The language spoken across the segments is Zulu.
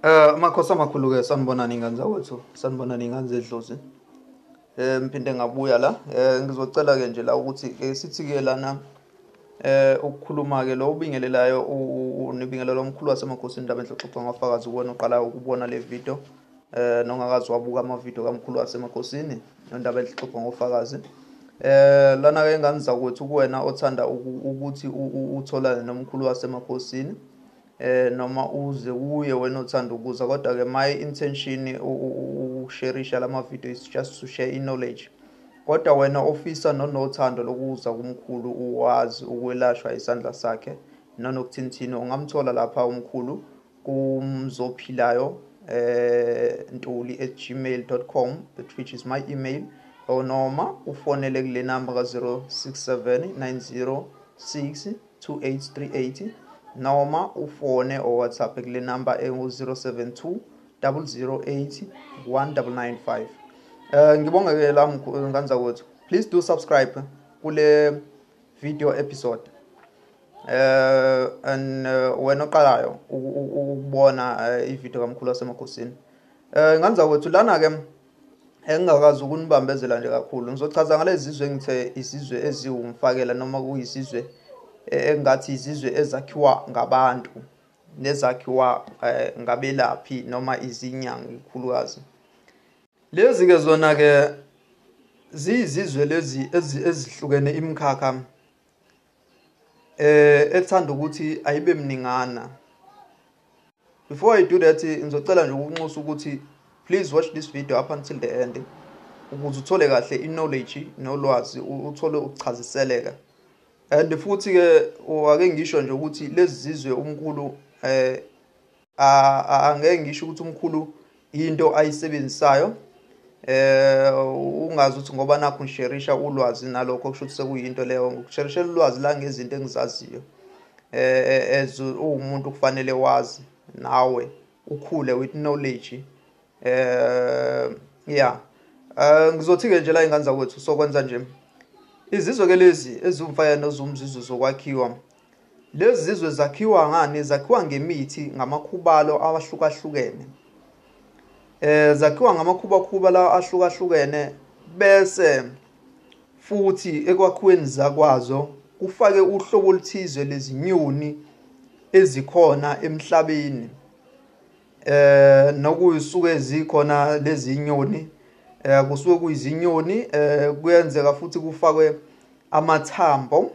Eh makhosi amakhulu ke sanibonani ingane zakwethu sanibonani ingane zedlozi eh ngiphinde ngabuya la eh ngizocela ke nje la ukuthi ke sithi ke lana eh ukukhuluma ke lo ubingelelayo unibingelela omkhulu wasemakhosini indaba enhloxoxa ngafakazi kuwena uqala ukubona le video eh nongakazi wabuka ama video kamkhulu wasemakhosini indaba enhloxoxa ngofakazi eh lana ke ngani zakwethu kuwena othanda ukuthi utholane nomkhulu wasemakhosini Eh noma uze kuye wena othanda ukuza kodwa ke my intention ukusherisha lama video is just to share in knowledge kodwa wena ofisa nonothando lokuza kumkhulu uwazi ukwelashwa isandla sakhe nonokuthinthini ungamthola lapha umkhulu kumzophilayo eh ntuli @gmail.com which is my email or noma ufonele kule number ka 067 906 28380 noma ufone or WhatsApp kule number engu-072 008 1995 um ngibonge ke la nganza kwethu please do subscribe kule video episode eh and eh, wena oqalayo ukubona eh, ivideo kamkhulu wasemakhosini eh nganza kwethu lana ke engingakwazi ukunibambezela nje kakhulu ngizochaza ngalezi zizwe engithe izizwe eziwumfakela noma kuyizizwe eh, engathi izizwe ezakhiwa ngabantu nezakhiwa eh, ngabelaphi noma izinyanga ikhulukazi lezi ke zona ke ziyizizwe lezi ezihlukene imikhakha eh ethanda ukuthi ayibe mningana before i do that ngizocela nje ukunxusa ukuthi please watch this video up until the end ukuze uthole kahle i-knowledge nolwazi uthole ukuchaziseleka and futhi-ke ake ngisho nje ukuthi lezi zizwe umkhulu um angeke ngisho ukuthi umkhulu into ayisebenzisayo eh ungazi ukuthi ngoba nakho ngisherisha ulwazi nalokho kusho ukuthi sekuyinto leyo ngikusherisha ulwazi la ngezinto engizaziyo eh, eh as uwumuntu kufanele wazi nawe ukhule with knowledge eh yeah eh, ngizothi ke nje la ingane zakwethu sokwenza nje izizwe ke lezi ezumfaya nozumzizu zokwakhiwa Lezi zizwe zakhiwa ngani? Zakhiwa ngemithi, ngamakhubalo awahlukahlukene. Eh zakhiwa ngamakhubakhuba lawa ahlukahlukene bese futhi ekwakhiweni zakwazo kufake uhlobo oluthize lezinyoni ezikhona emhlabeni. Eh nokuyisuke zikhona lezi nyoni eh kusuke kuyizinyoni eh kuyenzeka futhi kufakwe amathambo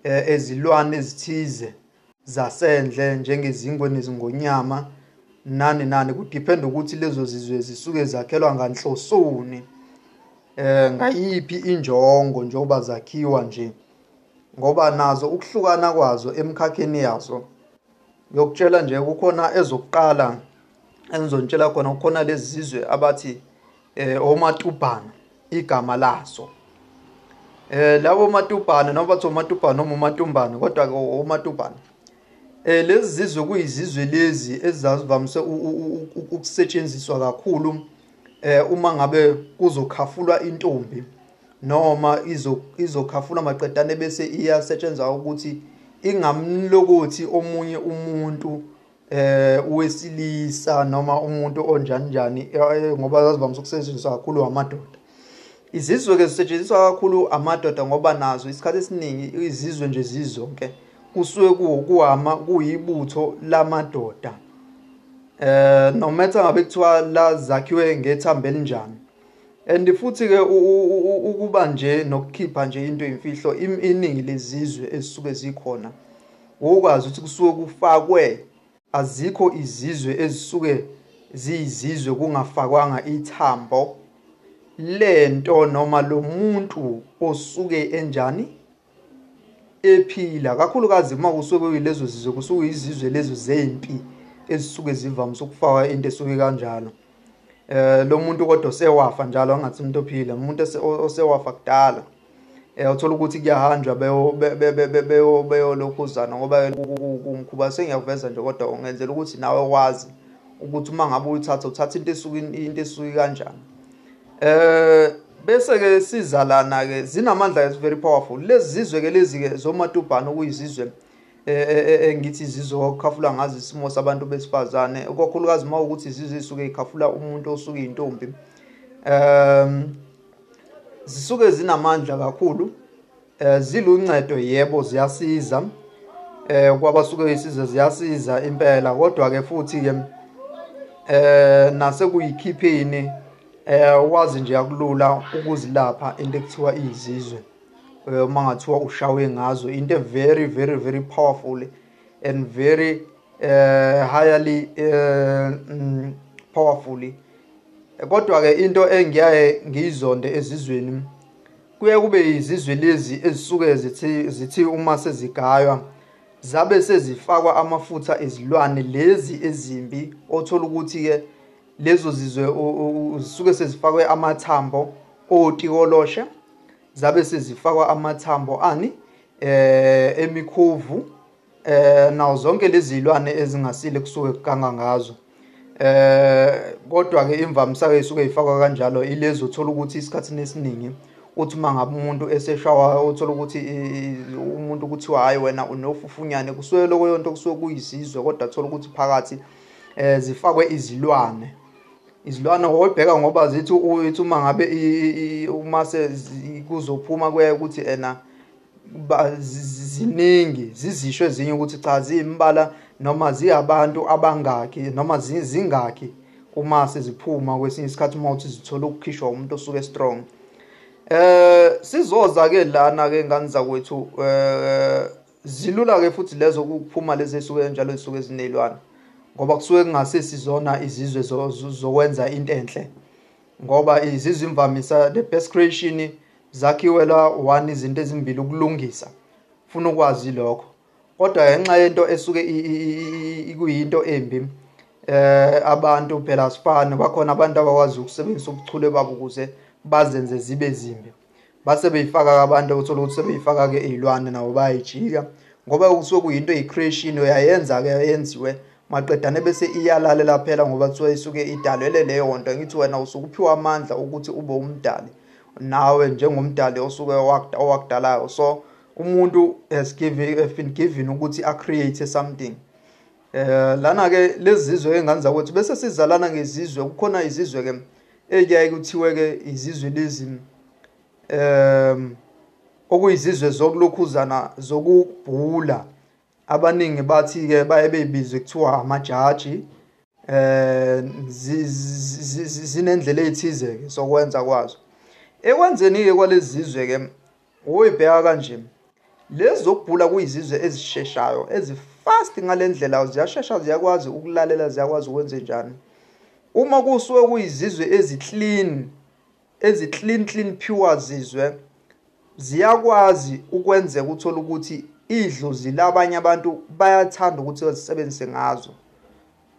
eh, ezilwane ezithize zasendle njengezingwe nezingonyama nani nani kudiphenda ukuthi lezo zizwe zisuke zakhelwa nganhlosoni eh ngayiphi injongo njengoba zakhiwa nje ngoba nazo ukuhlukana kwazo emkhakheni yazo ngiyokutshela nje kukhona ezokuqala engizontshela khona kukhona lezi zizwe abathi eh omatubhana igama laso eh labo matubhana noma bathi omatubhana noma umatumbana kodwa ke omatubhana eh lezi zizwe kuyizizwe lezi ezazivamise ukusetshenziswa kakhulu eh uma ngabe kuzokhafulwa intombi noma izo izokhafula maqedane bese iyasetshenzwa ukuthi ingamlokothi omunye umuntu eh uwesilisa noma umuntu onjani njani eh, ngoba zazivamise ukusetshenziswa kakhulu amadoda izizwe ke zisetshenziswa kakhulu amadoda ngoba nazo isikhathi esiningi izizwe nje zizonke kusuke kuwukuhama kuyibutho lamadoda eh no matter ngabe kuthiwa la zakhiwe ngethambo elinjani and futhi ke ukuba nje nokukhipha nje into imfihlo iningi lezizwe ezisuke zikhona wokwazi ukuthi kusuke kufakwe azikho izizwe ezisuke ziyizizwe kungafakwanga ithambo lento noma lo muntu osuke enjani ephila kakhulukazi uma kusuke kuyilezo zizwe kusuke izizwe lezo zempi ezisuke zivamise ukufaka into esuke kanjalo eh lo muntu kodwa sewafa njalo angathi umuntu ophila umuntu osewafa kudala eh uthola ukuthi kuyahanjwa beyolokhuzana ngoba kumkhuba sengiyakuveza nje kodwa ungenzela ukuthi nawe wazi ukuthi uma ngabe uyithatha uthatha into esuke into esuke kanjani eh bese ke sizalana ke zinamandla is very powerful lezi zizwe ke lezi ke zomatubhana okuyizizwe e, e, e, engithi izizwe okukhafula ngazi isimo sabantu besifazane kokhulukazi uma ukuthi izizwe isuke ikhafula umuntu osuke intombi um zisuke zinamandla kakhulu eh ziluncedo yebo ziyasiza eh kwabasuke isize ziyasiza impela kodwa ke futhi ke eh nase kuyikhiphini eh wazi nje yakulula ukuzilapha into ekuthiwa izizwe eh, uma ngathiwa ushawe ngazo into very very very powerful and very uh, highly uh, mm, powerfully kodwa ke into engiyaye ngiyizonde ezizweni kuye kube izizwe lezi ezisuke zithi zithi uma sezigaywa zabe sezifakwa amafutha ezilwane lezi ezimbi othola ukuthi ke lezo zizwe zisuke sezifakwe amathambo otikoloshe zabe sezifakwa amathambo ani eh emikhuvu eh nawo zonke lezi zilwane ezingasile kusuke kuganga ngazo eh kodwa ke imvamisa ke isuke ifakwa kanjalo ilezi uthola ukuthi isikhathi nesiningi uthi uma ngabe umuntu eseshawa uthola ukuthi umuntu kuthiwa hayi wena unofufunyane kusuke lokho yonto kusuke kuyisizwe kodwa thola ukuthi phakathi eh zifakwe izilwane izilwane oyibheka ngoba zithi uthi uma ngabe uma kuzophuma kuye ukuthi ena ziningi zizisho ezinye ukuthi cha ziyimbala noma ziyabantu abangaki noma zingaki uma seziphuma kwesinye isikhathi uma uthi zithola ukukhishwa umuntu osuke strong eh sizoza ke lana ke ngane zakwethu eh Zilula ke futhi lezo ukuphuma lezi esuke njalo zisuke zinelwana ngoba kusuke kungasisi zona izizwe zokwenza into enhle ngoba izizwe imvamisa the best creation zakhiwela one izinto ezimbili ukulungisa funa ukwazi lokho kodwa ngenxa yento esuke ikuyinto embi eh abantu phela sifana bakhona abantu abakwazi ukusebenzisa ubuchule babo ukuze bazenze zibe zimbi base beyifaka-ke abantu okuthola ukuthi sebeyifaka-ke iy'lwane nabo bayayijika ngoba kusuke kuyinto eyi-creation uyayenza-ke yenziwe maqedane bese iyalalela phela ngoba kuthiwa isuke idalele leyo nto ngithi wena usuke uphiwa amandla ukuthi ube umdali nawe njengomdali osuke owakudalayo so umuntu has given, has been given ukuthi a-create something Eh lana ke lezizwe enganza ukuthi bese sizalana ngezizwe kukhona izizwe ke eziyaye kuthiwe ke izizwe lezi um okuyizizwe zokulokhuzana zokubhula abaningi bathi ke baye beyibizwe kuthiwa amajaji eh zinendlela ezithize ke sokwenza kwazo ekwenzeni ke kwalezizwe ke Woyi bheka kanje. Lezi zokugula kuyizizwe ezisheshayo, ezifast ngalendlela ziyashesha ziyakwazi ukulalela ziyakwazi ukwenze njani. Uma kusuke kuyizizwe eziclean eziclean clean pure zizwe ziyakwazi ukwenzeka uthola ukuthi idlozi labanye abantu bayathanda ukuthi bazisebenzise ngazo.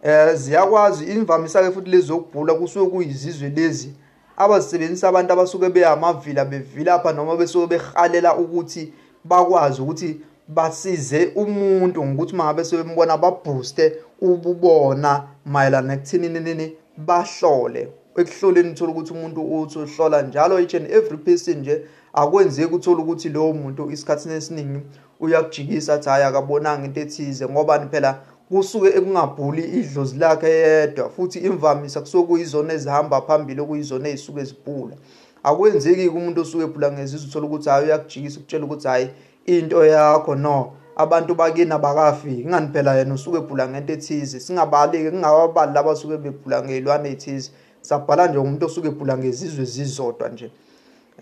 Eh ziyakwazi imvamisa ke futhi lezi zokubhula kusuke kuyizizwe lezi abazisebenzisa abantu abasuke behamavila bevilapha noma besuke behalela ukuthi bakwazi ukuthi basize umuntu ngokuthi mangabe sebembona babooste ububona mayelana ekuthini nini bahlole ekuhloleni uthola ukuthi umuntu uthi uhlola njalo each and every person nje akwenzeki uthola ukuthi lowo muntu isikhathini esiningi uyakujikisa athi hhayi akabonanga into ethize ngobani phela kusuke ekungabhuli idlozi lakhe yedwa futhi imvamisa kusuke kuyizona ezihamba phambili okuyizona ezisuke zibhula akwenzeki-ke umuntu osuke ebhula ngezizwe uthole ukuthi hhayi uyakujikisa ukutshela ukuthi hhayi into yakho no abantu bakini abakafiki ingani phela yena usuke ebhula ngento ethize singabali-ke kungababali laba suke bebhula ngey'lwane ey'thize sabhala nje umuntu osuke ebhula ngezizwe zizodwa nje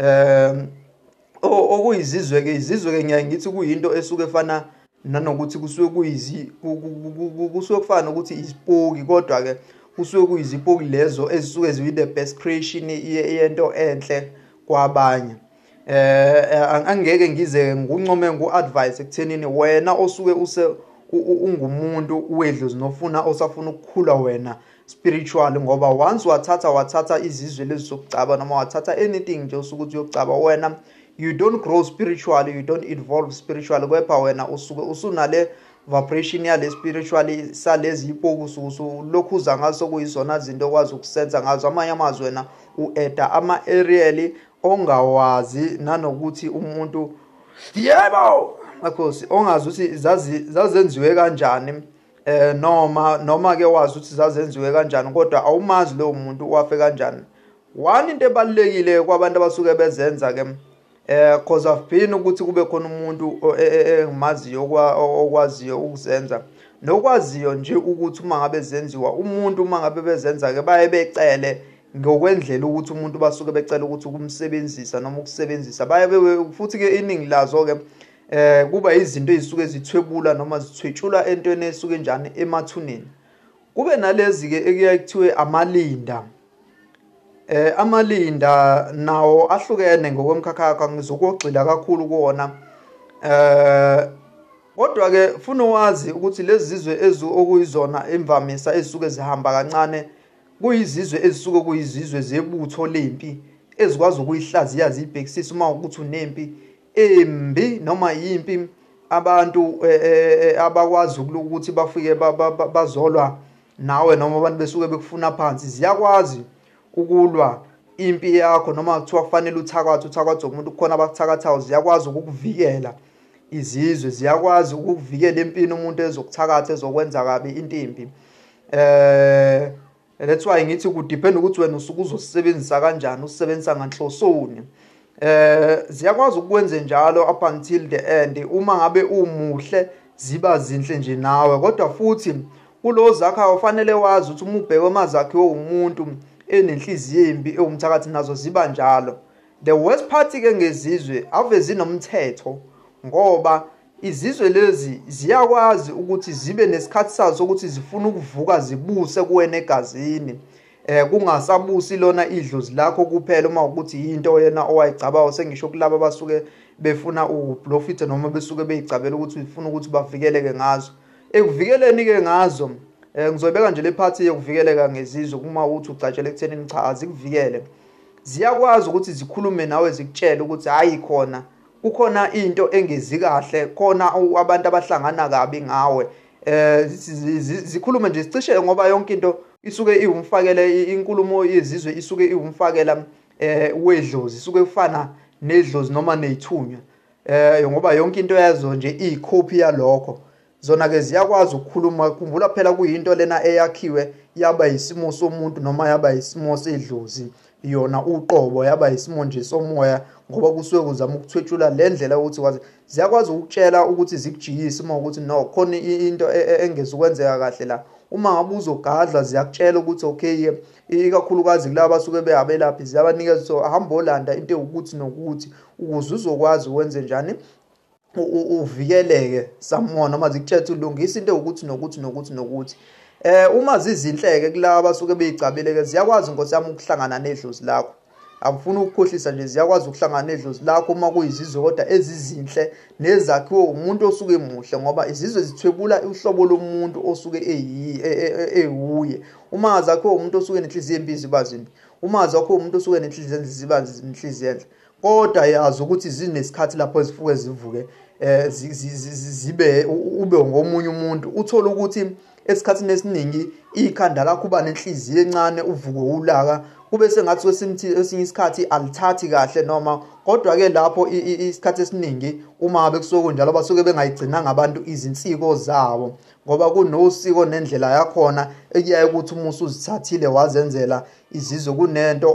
um okuyizizwe-ke izizwe-ke ngiyaye ngithi kuyinto esuke efana nanokuthi kusuke kuyizi kusuke kufana nokuthi isipoki kodwa-ke kusuke kuyizipoki lezo ezisuke ziyi-the best creation yento enhle kwabanye um angeke ngize nguncome ngu-advise ekuthenini wena osuke use ungumuntu wedlozi nofuna osafuna ukukhula wena spiritual ngoba once wathatha wathatha izizwe lezi zokugcaba noma wathatha anything nje usukuthi uyogcaba wena you don't grow spiritually you don't evolve spiritually kepha wena usuke usunale vibration yale spiritually salezi ipoku sukusu lokhu uza ngaso kuyizona zinto okwazi ukusenza ngazo amanye amazwi wena u-eda ama-ariel ongawazi nanokuthi umuntu yebo makhosi ongazi ukuthi zazenziwe kanjani eh noma noma ke wazi ukuthi zazenziwe kanjani kodwa awumazi lowo muntu wafe kanjani one into ebalekile kwabantu abasuke bezenza ke eh cause I've been ukuthi kube khona umuntu e, e, e, engimaziyo okwaziyo ukuzenza nokwaziyo nje ukuthi uma ngabe zenziwa umuntu uma ngabe bezenza ke baye becele ngokwendlela ukuthi umuntu basuke becela ukuthi ukumsebenzisa noma ukusebenzisa baye futhi ke iningi lazo ke eh kuba izinto ezisuke zithwebula noma zithwetshula entweni esuke njani emathuneni kube nalezi ke ekuyaye kuthiwe amalinda eh amalinda nawo ahlukene ngokwemkhakhakha ngizokugxila kakhulu kuona eh kodwa ke funa wazi ukuthi lezi zizwe ezu okuyizona imvamisa ezisuke zihamba kancane kuyizizwe ezisuke kuyizizwe zebutho lempi ezikwazi ukuyihlaziya zibhekisisa uma ukuthi unempi imbi noma yimpi abantu e, e, e, abakwazi ukuthi bafike bazolwa nawe noma abantu besuke bekufuna phansi ziyakwazi ukulwa impi yakho noma kuthiwa kufanele uthakathe uthakathe umuntu kukhona abakuthakathayo ziyakwazi ukukuvikela izizwe ziyakwazi ukukuvikela empini umuntu ezokuthakatha ezokwenza kabi into imbi eh And that's why ngithi ku depend ukuthi wena usuke uzosebenzisa kanjani usebenzisa nganhlosoni. Eh ziyakwazi ukwenze njalo up until the end uma ngabe umuhle ziba zinhle nje nawe kodwa futhi kulo zakha ufanele wazi ukuthi umubheke amazakhe womuntu enenhliziyo embi ewumthakathi nazo ziba njalo the worst part ke ngezizwe ave zinomthetho ngoba Izizwe lezi ziyakwazi ukuthi zibe nesikhathi sazo sokuthi zifuna ukuvuka zibuse kuwena egazini. Eh kungasabusi lona idlozi lakho kuphela uma ukuthi yinto yena owayicabayo sengisho kulabo abasuke befuna uprofit noma besuke beyicabela ukuthi ufuna ukuthi bavikeleke ngazo. Ekuvikeleni ke ngazo eh ngizoyibeka nje le party yokuvikeleka ngezizwe uma uthi ugcatshela ekuthenini cha azikuvikele. Ziyakwazi ukuthi zikhulume nawe zikutshele ukuthi hayi khona kukhona into engezi kahle khona abantu abahlangana kabi ngawe eh zikhulume nje sicishe ngoba yonke into isuke iwumfakele inkulumo yezizwe isuke iwumfakela eh wedlozi isuke kufana nedlozi noma neyithunywa eh ngoba yonke into yazo nje iyikhophi yalokho zona ke ziyakwazi ukukhuluma khumbula phela kuyinto lena eyakhiwe yaba yisimo somuntu noma yaba yisimo sedlozi yona uqobo yaba yisimo nje somoya ngoba kusuke kuzama ukuthwetshula le ndlela ukuthi kwazi ziyakwazi ukutshela ukuthi zikujiyise uma ukuthi no khona into e, e, engeza ukwenzeka kahle la uma ngabe uzogadla ziyakutshela ukuthi okay ikakhulukazi kulaba basuke behabelaphi ziyabanikeza so hamba olanda into ewukuthi nokuthi ukuze uzokwazi wenze njani uvikeleke someone noma zikutshela ulungisa into ukuthi nokuthi nokuthi nokuthi eh uma zizinhleke kulaba basuke beyigcabile ke ziyakwazi inkosi yami ukuhlangana nedlozi lakho angifuni ukukhohlisa nje ziyakwazi ukuhlangana nedlozi lakho uma kuyizizwe kodwa ezizinhle nezakhiwe umuntu osuke emuhle ngoba izizwe zithwebula uhlobo lomuntu osuke e, e, e, ewuye uma zakhiwe umuntu osuke nenhliziyo embi ziba zimbi uma zakhiwe umuntu osuke nenhliziyo enhle ziba nenhliziyo enhle kodwa yazi ukuthi zinesikhathi lapho ezifuke zivuke eh zibe ube ngomunye umuntu uthola ukuthi esikhathini esiningi ikhanda lakho uba nenhliziyo encane uvuke ulaka kube sengathi kwesimthi esinye isikhathi alithathi kahle noma kodwa ke lapho isikhathi esiningi uma bekusuke njalo basuke bengayigcinanga abantu izinsiko zabo ngoba kunosiko nendlela yakhona ekuyaye ukuthi umusa uzithathile wazenzela izizwe kunento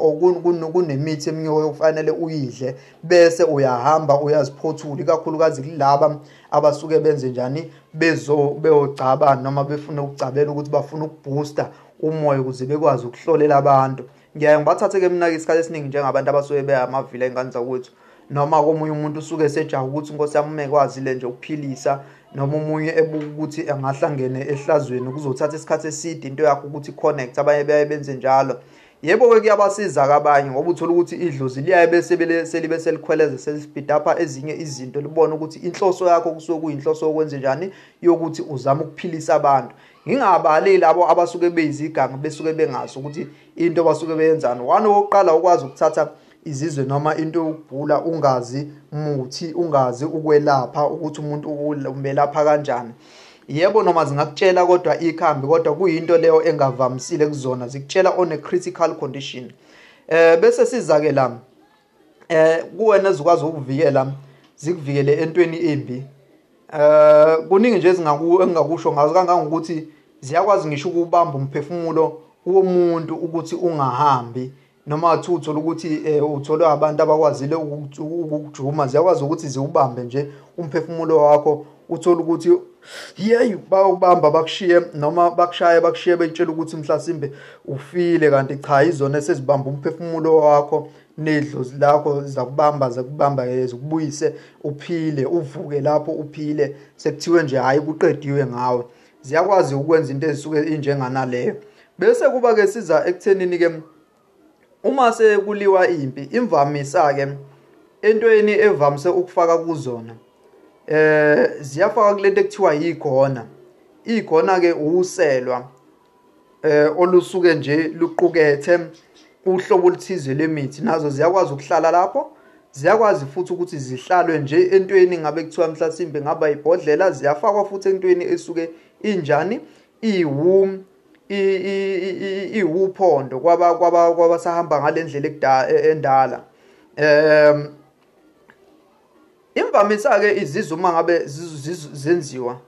kunemithi eminye okufanele uyidle bese uyahamba uyaziphothula ikakhulukazi kulaba abasuke benze njani bezo beyogcaba noma befuna ukugcabela ukuthi bafuna ukubooster umoya ukuze bekwazi ukuhlolela abantu ngiyaye ngibathathe-ke mina-ke isikhathi esiningi njengabantu abasuke beyamavila ey'ngane zakwethu noma komunye umuntu usuke esejaha ukuthi inkosi yami uma ekwazile nje ukuphilisa noma omunye ebuka ukuthi angahlangene ehlazweni kuzothatha isikhathi eside into yakho ukuthi connect abanye baye benze njalo yebo-ke kuyabasiza kabanye ngoba uthole ukuthi idlozi liyaye bese selibe selikhweleze selisibhida apha ezinye izinto libone ukuthi inhloso yakho kusuke kuyinhloso yokwenze njani yokuthi uzame ukuphilisa abantu ngingabali labo abasuke beyizigangi besuke bengazi ukuthi into basuke beyenzani one wokuqala ukwazi ukuthatha izizwe noma into yokugula ungazi muthi ungazi ukwelapha ukuthi umuntu umelapha kanjani yebo noma zingakutshela kodwa ikhambi kodwa kuyinto leyo engavamisile kuzona zikutshela on a critical condition eh bese siza ke la eh kuwena ezikwazi ukuvikela zikuvikele entweni embi eh kuningi nje ezingaku engakusho ngazo kangangokuthi ziyakwazi ngisho ukubamba umphefumulo womuntu ukuthi ungahambi noma athi uthola ukuthi eh, utholwe abantu abakwazile ukujuma ziyakwazi ukuthi ziwubambe nje umphefumulo wakho uthola ukuthi yeyi bawubamba bakushiye noma bakushaye bakushiye betshela ukuthi mhlasimbe ufile kanti cha izona esezibamba umphefumulo wakho nedlozi lakho zakubamba zakubamba eh, zikubuyise uphile uvuke lapho uphile sekuthiwe nje hhayi kuqediwe ngawe ziyakwazi ukwenza into ezisuke injenganaleyo bese kuba ke siza ekuthenini ke uma sekuliwa impi imvamisa ke entweni evamise ukufaka kuzona eh ziyafaka kulento ekuthiwa yigona igona ke uselwa eh olusuke nje luqukethe uhlobo oluthize lemithi nazo ziyakwazi ukuhlala lapho ziyakwazi futhi ukuthi zihlalwe nje entweni ngabe kuthiwa mhlasimbe ngaba ibhodlela ziyafakwa futhi entweni esuke injani iwu iwuphondo kwaba kwaba kwabasahamba ngalendlela ekudala e, endala um imvamisa ke izizuma ngabe zenziwa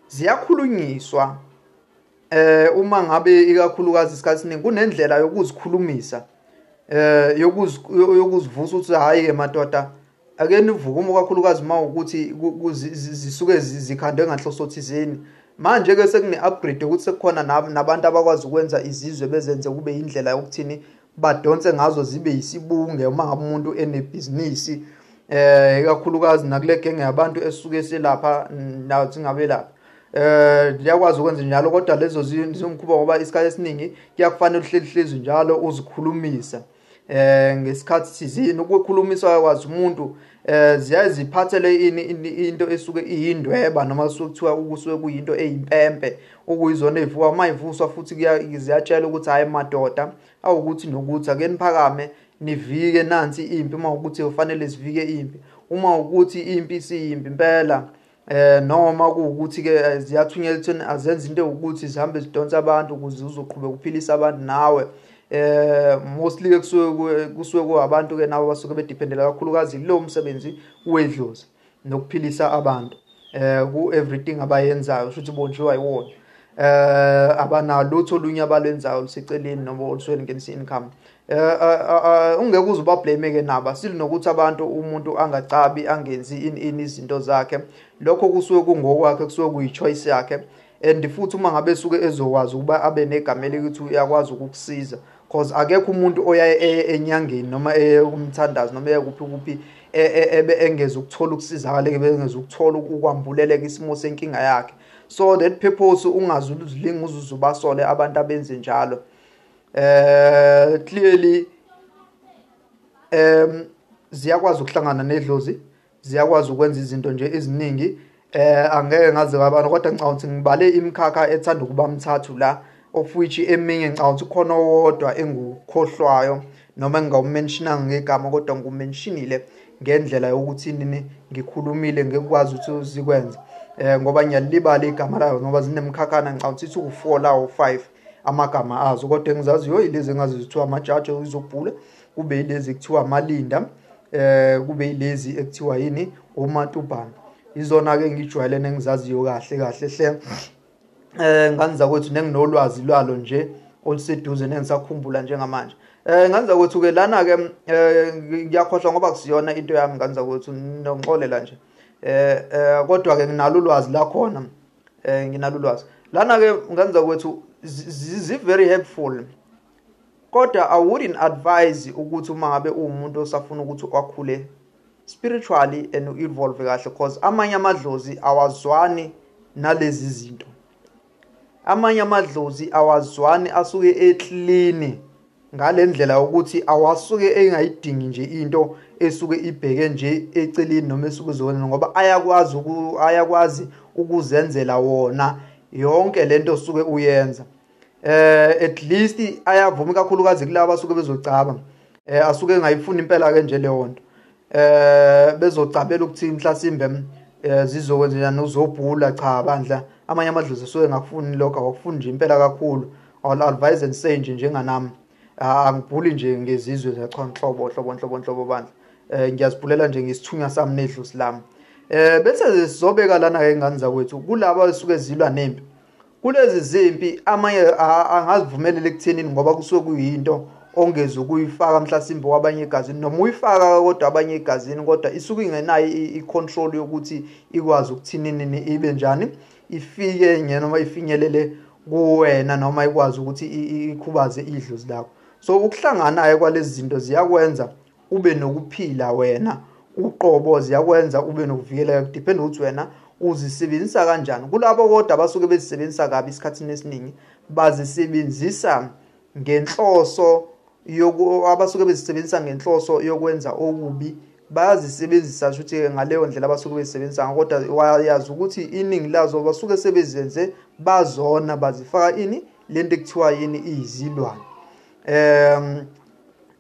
ziyakhulunyiswa eh uma ngabe ikakhulukazi isikhathi siningi kunendlela yokuzikhulumisa eh yokuzivusa ukuthi hayi ke madoda ake nivuke uma kakhulukazi uma ukuthi zisuke zikhandwe nganhloso thizeni manje ke sekune upgrade ukuthi sekukhona nabantu abakwazi ukwenza izizwe bezenze kube indlela yokuthini badonse ngazo zibe yisibunge uma ngabe umuntu enebhizinisi eh ikakhulukazi nakule genge yabantu esuke selapha nawo singabe lapha eh liyakwazi ukwenza njalo kodwa lezo zingikhuba ngoba isikhathi esiningi kuyakufanele uhleli hlezi njalo uzikhulumisa eh ngesikhathi sizini ukukhulumisa yakwazi umuntu eh ziyaye ziphathele ini into esuke iyindweba noma kusuke kuthiwa ukusuke kuyinto eyimpempe Ukuyizona evuka uma ivuswa futhi ziyatshela ukuthi hhayi madoda awukuthi nokuthi ake niphakame nivike nansi impi uma ukuthi kufanele sivike impi uma ukuthi impi isiyimpi impela eh noma kuwukuthi ke eh, ziyathunyelwa ekutheni azenza into ukuthi zihambe zidonsa abantu ukuze uzoqhubeka ukuphilisa abantu nawe eh mostly ke kusuke kusuke kuabantu ke nabo basuke bedependela kakhulukazi lo msebenzi wedlozi nokuphilisa abantu eh ku everything abayenzayo shuthi bondliwa iwona eh abanalutho olunye abalwenzayo luseceleni noma olusweni ngenisa income eh, eh, eh, eh ungeke uze ubablame ke naba silinokuthi abantu umuntu angacabi angenzi in in izinto zakhe lokho kusuke kungokwakhe kusuke kuyichoice yakhe and futhi uma ngabe suke ezokwazi ukuba abe negama elikuthi uyakwazi ukukusiza cause akekho umuntu oyaye eye enyangeni noma eye kumthandazi noma eye kuphi kuphi e, e, ebe engeza ukuthola ukusizakala ebe engeza ukuthola ukwambuleleka isimo senkinga yakhe so that purpose ungazi uzilinga uzuze ubasole abantu abenze njalo eh clearly um ziyakwazi ukuhlangana nedlozi ziyakwazi ukwenza izinto nje eziningi eh angeke ngaze kabana kodwa ngicabanga ukuthi ngibale imikhakha ethanda ukuba mthathu la of which eminye ngicabanga ukuthi khona owodwa engukhohlwayo noma engingawumentionanga ngegama kodwa ngikumentionile ngendlela yokuthi nini ngikhulumile ngikwazi ukuthi zikwenze eh ngoba ngiyalibala igama layo ngoba zinemkhakhana ngicabanga ukuthi uku4 la o5 amagama azo kodwa engizaziyo yilezi engazizithiwa amajaji uzobhula kube ilezi kuthiwa amalinda eh kube ilezi ekuthiwa yini omatubhana izona ke ngijwayele nengizaziyo kahle kahle hle eh ngangiza kwethu nenginolwazi lwalo nje oluseduze nengisakhumbula njengamanje eh ngangiza kwethu ke lana ke eh, ngiyakhohlwa ngoba kusiyona into yami ngangiza kwethu nonxolela nje eh, eh kodwa ke nginalo ulwazi la khona eh nginalo ulwazi lana ke ngangiza kwethu zi very helpful Kodwa I wouldn't advise ukuthi uma ngabe uwumuntu osafuna ukuthi akhule spiritually and u-evolve kahle cause amanye amadlozi awazwani nalezi zinto amanye amadlozi awazwani asuke eklini ngale ndlela yokuthi awasuke engayidingi nje into esuke ibheke nje eceleni noma esuke izona ngoba ayakwazi ayakwazi ukuzenzela wona yonke lento osuke uyenza eh at least ayavuma ikakhulukazi kulabo asuke bezocaba eh asuke engayifuni impela ke nje leyo nto eh bezocabela ukuthi mhlasimbe eh zizokwenzenjani uzobhula cha bandla amanye amadlozi suke ngakufuni lokho awakufuni nje impela kakhulu all advise and say nje njenganami angibhuli nje ngezizwe zachwa nhlobo hlobo nhlobo nhlobo bandla eh ngiyazibhulela nje ngisithunywa sami nedlozi lami eh bese sizobeka lana ke ingane zakwethu kulabo esuke zilwa nempi Kulezi zimpi amanye angazivumeleli kuthenini ngoba kusuke kuyinto ongeze ukuyifaka mhlasimbe kwabanye egazini noma uyifaka kodwa abanye egazini kodwa isuke ingenayo i-control yokuthi ikwazi ukuthinini ibe njani ifike nje noma ifinyelele kuwena noma ikwazi ukuthi ikhubaze idlozi lakho so ukuhlanganayo kwalezi zinto ziyakwenza ube nokuphila wena uqobo ziyakwenza ube nokuvikeleka kudependa ukuthi wena uzisebenzisa kanjani kulabo kodwa abasuke bezisebenzisa kabi isikhathini esiningi bazisebenzisa ngenhloso yoku abasuke bezisebenzisa ngenhloso yokwenza okubi bayazisebenzisa kusho ukuthi ngaleyo ndlela abasuke bezisebenzisa ngako kodwa wayazi ukuthi iningi lazo basuke sebezenze bazona bazifaka ini lento ekuthiwa yini izilwane um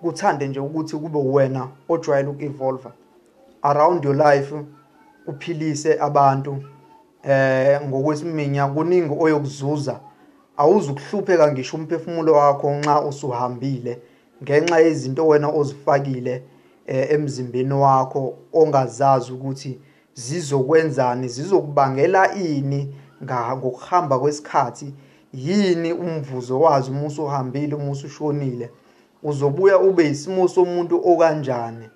kuthande nje ukuthi kube wena ojwayele uku-evolva around your life uphilise abantu eh ngokwesiminya kuningi oyokuzuza awuzukuhlupheka ngisho umphefumulo wakho nxa usuhambile ngenxa yezinto wena ozifakile eh, emzimbeni wakho ongazazi ukuthi Zizokwenzani? Zizokubangela ini ngokuhamba kwesikhathi? Yini umvuzo wazo uma usuhambile, uma usushonile? Uzobuya ube yisimo somuntu okanjani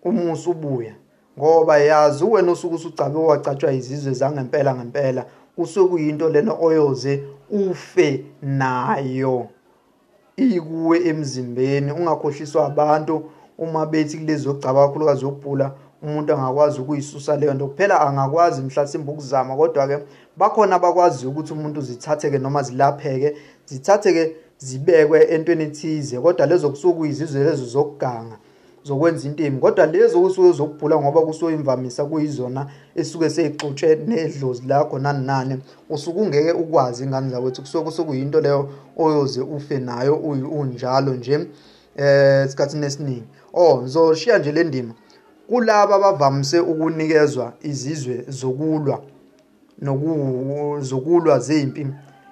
uma usubuya? Ngoba yazi wena osuke usugcabe wacatshwa izizwe zangempela ngempela, kusuke kuyinto lena oyoze ufe nayo. iyikuwe emzimbeni ungakhohliswa abantu uma bethi kulezi zokugcaba kakhulukazi yokubhula umuntu angakwazi ukuyisusa leyo nto kuphela angakwazi mhlasimbe ukuzama kodwa-ke bakhona abakwaziyo ukuthi umuntu zithatheke noma zilapheke zithatheke zibekwe entweni ethize kodwa lezo kusuke kuyizizwe lezo zokuganga zokwenza into embi kodwa lezo kusuke zokubhula ngoba kusuke imvamisa kuyizona esuke seyixutshwe nedlozi lakho nani nani usuke ungeke ukwazi ingane zakwethu kusuke kusekuyinto leyo oyoze ufe nayo unjalo nje eh esikhathini esiningi oh ngizoshiya nje le ndima kulaba abavamise ukunikezwa izizwe zokulwa nokuzukulwa zempi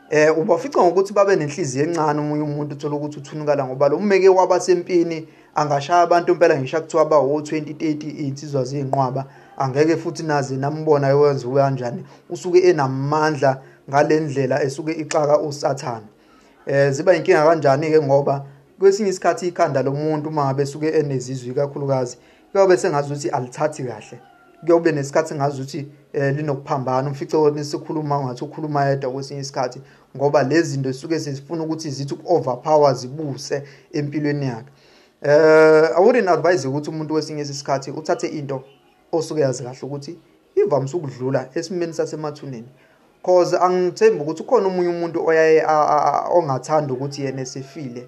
eh ubafica ngokuthi babe nenhliziyo encane umunye umuntu uthola ukuthi uthunukala ngoba lo mmeke waba sempini angashaya abantu impela ngisho kuthiwa ba wo 2030 insizwa zinqwaba angeke futhi naze nambona yowenza kanjani usuke enamandla ngalendlela esuke ixaka usathana eh ziba inkinga kanjani ke ngoba kwesinye isikhathi ikhanda lomuntu uma besuke enezizwi kakhulukazi kuyobe sengazi ukuthi alithathi kahle kuyobe nesikhathi engazi ukuthi um linokuphambana umfice wona sikhuluma ngathi ukhuluma yedwa kwesinye isikhathi ngoba lezi zinto zisuke sezifuna ukuthi zithi uku-overpower zibuse empilweni yakhe um uh, awouldn't advise ukuthi umuntu kwesinye isikhathi uthathe into osuke yazi kahle ukuthi ivamise ukudlula esimeni sasemathuneni cause angithembi ukuthi ukhona omunye umuntu oyaye ongathanda ukuthi yena esefile